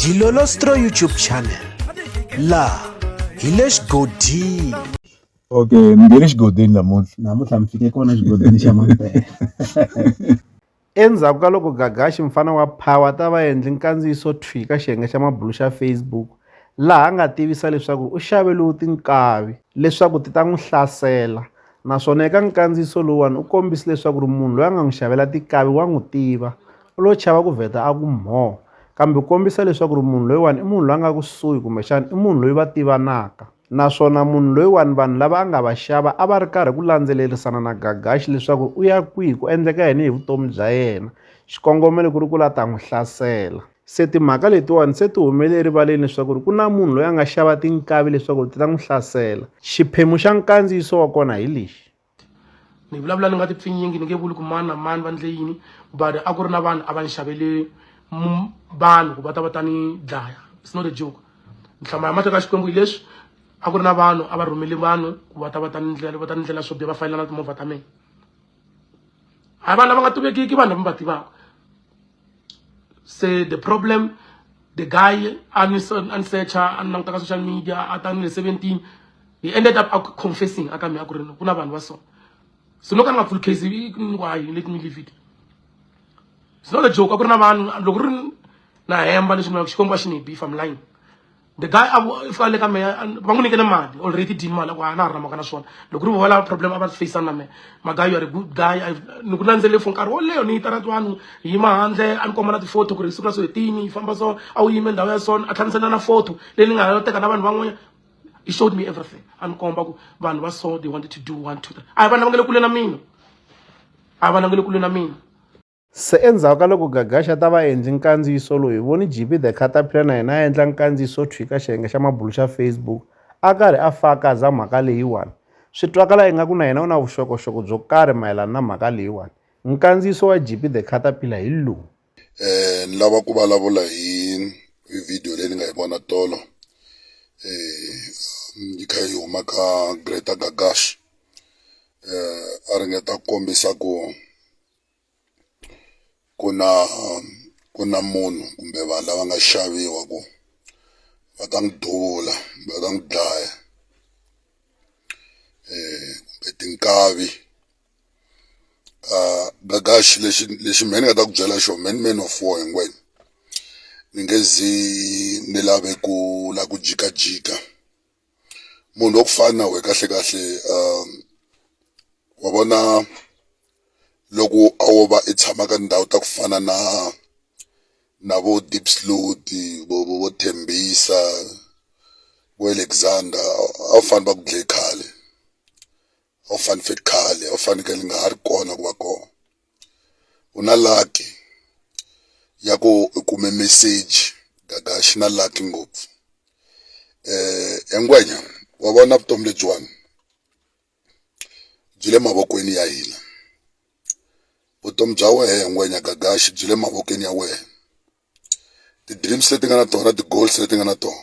Dilolostro YouTube channel la hi le xigodini okay mi nge le xigodini namuntlha namuntlha mi fike kona xigodini xa mampela endzhaku ka loko gagaxi mfana wa power ta va endli nkandziyiso thwi ka xiyenge xa mabulu xa facebook laha a nga tivisa leswaku u xave lowu tinkavi leswaku ti ta n'wi hlasela naswona eka nkandziyiso lowuwani u kombise leswaku ri munhu loyi a nga n'wi xavela tinkavi wa n'wi tiva u lo chava ku vheta a ku mhoo kambe kombisa leswaku ri munhu loyiwani i munhu loyi a nga kusuhi kumbexana i munhu loyi va tivanaka naswona munhu loyiwani vanhu lava a nga va xava a va ri karhi ku landzelerisana na gagaxi leswaku u ya kwihi ku endleka yini hi vutomi bya yena xikongomelo ku ri ku la ta n'wi hlasela se timhaka letiwani se ti humele erivaleni leswaku ri ku na munhu loyi a nga xava tinkavi leswaku ri ti ta n'wi hlasela xiphemu xa nkandziyiso wa kona hi lexi ni vulavula ni nga tipfinyingi ni nge vuli ku mani na mani va ndle yini but a ku ri na vanhu a va ni xavele vanhu ku va ta va ta ni dlaya it's not a joke nhlama ya mateka xikwembu hi leswi a ku ri na vanhu a va rhumele vanhu ku va ta va ta ni ndlela va ta ni ndlela swo biha va fayela na timovha ta mina hayi vanhu lava nga tivekiki vanhu lava mi va tivaka se the problem the guy Anderson Ansecha and Namtaka social media at 17 he ended up confessing akami akurino kuna vanhu va so so no kana full case why let me leave it it's not a joke akurina vanhu loko ri na hemba leswi na xikombo a xi ni beef i'm lying the guy a fika le ka mehe va n'wi nyikele mali already dini mali ku a na ha ri na mhaka na swona loko ri vola problem a va facana na mehe magayi ya ri good guy ni ku landzelele for nkarhi wo leyo ni yi tara twanu hi yima handle a ni komba na ti-photo ku ri siku ra so hi tini yi famba so a wu yime ndhawu ya so a tlhamisela na photo leyi ni nga ha yo teka na vanhu van'wanyana he showed me everything a ni komba ku vanhu va so they wanted to do one two three a hi va langele kule na mina a hi va langele kule na mina Se endzhaku ka loko Gagashi a ta va a endli nkandziyiso lowu, hi vone JP the Caterpillar na yena a endla nkandziyiso wo thwii ka xiyenge xa mabulu xa Facebook, a karhi a fakaza mhaka leyiwani. Swi twakala ingaku na yena u na vuxokoxoko byo karhi mayelana na mhaka leyiwani. Nkandziyiso wa JP the Caterpillar hi lowu. Ni lava ku vulavula hi hi video leyi ni nga yi vona tolo yi kha yi huma ka Greater Gagashi a ringeta ku kombisa ku. ku na ku na munhu kumbe vanhu lava nga xaviwa ku va ta n'wi duvula kumbe va ta n'wi dlaya um kumbe tinkavi um Gagax lexi lexi mehe ni nga ta ku byela xona mehe ni man of war hinkwenu ni nge zi ni lave ku la ku jikajika. munhu wa ku fana na we kahle kahle um wa vona loko a wo va i tshama ka ndhawu ta ku fana na na vo deep slot vo vo vo thembisa vo alexander a wu fane va ku dlaye khale orphan fit khale orphan ke li nga ha ri kona ku va kona ku na lucky ya ku u kume message gagaxi na lucky ngopfu eh engwenya wa vona vutomi lebyiwani byi le mavokweni ya hina vutomi bya wehe ngwenya gagaxi byi le mavokweni ya wehe ti-dreams leti nga na tona ti-goals leti nga na tona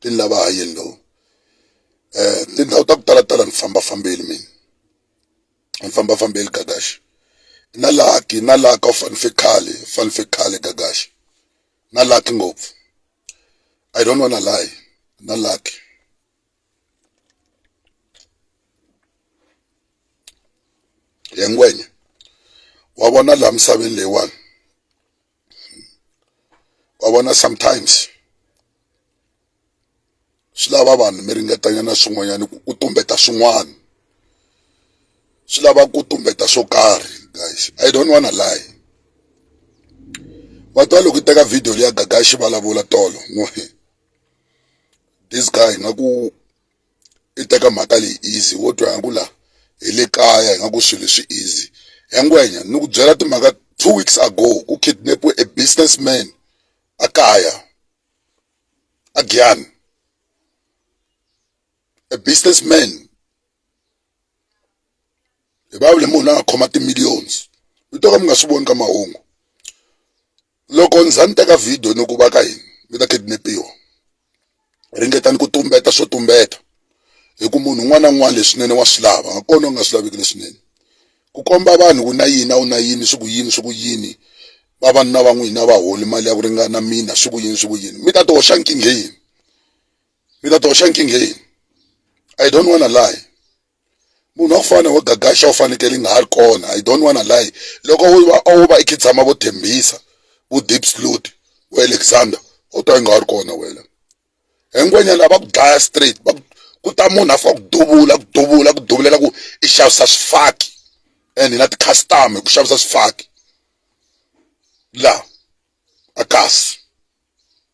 ti ni lava hayeni lowu um tindhawu ta ku talatala ni fambafambile mina ni fambafambile gagaxi na laki na laka u fanise khale u fanise khale gagaxi na laki ngopfu i don't wanna lie na laki yengwenya wa vona laha misaveni leyiwani wa vona sometimes swi lava vanhu mi ringetanyana swin'wanyana ku ku tumbeta swin'wana swi lava ku tumbeta swo karhi guys i don't wanna lie wa twa loko teka video leya gaga xivulavula tolo no this guy nga ku i teka mhaka leyi easy wo twa nga ku la hi le kaya hi nga ku swilo swi easy ya ngwenya ni ku byela timhaka two weeks ago ku kidnapiwe a businessman a kaya a Giyani a businessman hi va le munhu la nga khoma ti-millions mi to ka mi nga swi voni ka mahungu loko ni za ni teka video ni ku va ka hina mi ta kidnapiwa ringetani ku tumbeta swo tumbeta hi ku munhu un'wana na un'wana leswinene wa swi lava nga kona u nga swi laviki leswinene ku komba vanhu ku na yini a wu na yini swi ku yini swi ku yini vavanuna va n'wina va holi mali ya ku ringana mina swi ku yini swi ku yini mi ta ti hoxa nkingheni mi ta ti hoxa nkingheni i don't wanna lie munhu wa ku fana wa gagaxa u fanekele i nga ha ri kona i don't wanna lie loko wo va wo va i kha i tshama vo thembisa vo deep slot vo alexander u ta i nga ha ri kona wena hinkwanyana lava ku dlaya straight va ku ta munhu a fika ku duvula ku duvula ku duvulela ku i xavisa swifaki and hi na ti-customer hi ku xavisa swifaki laha a kasi.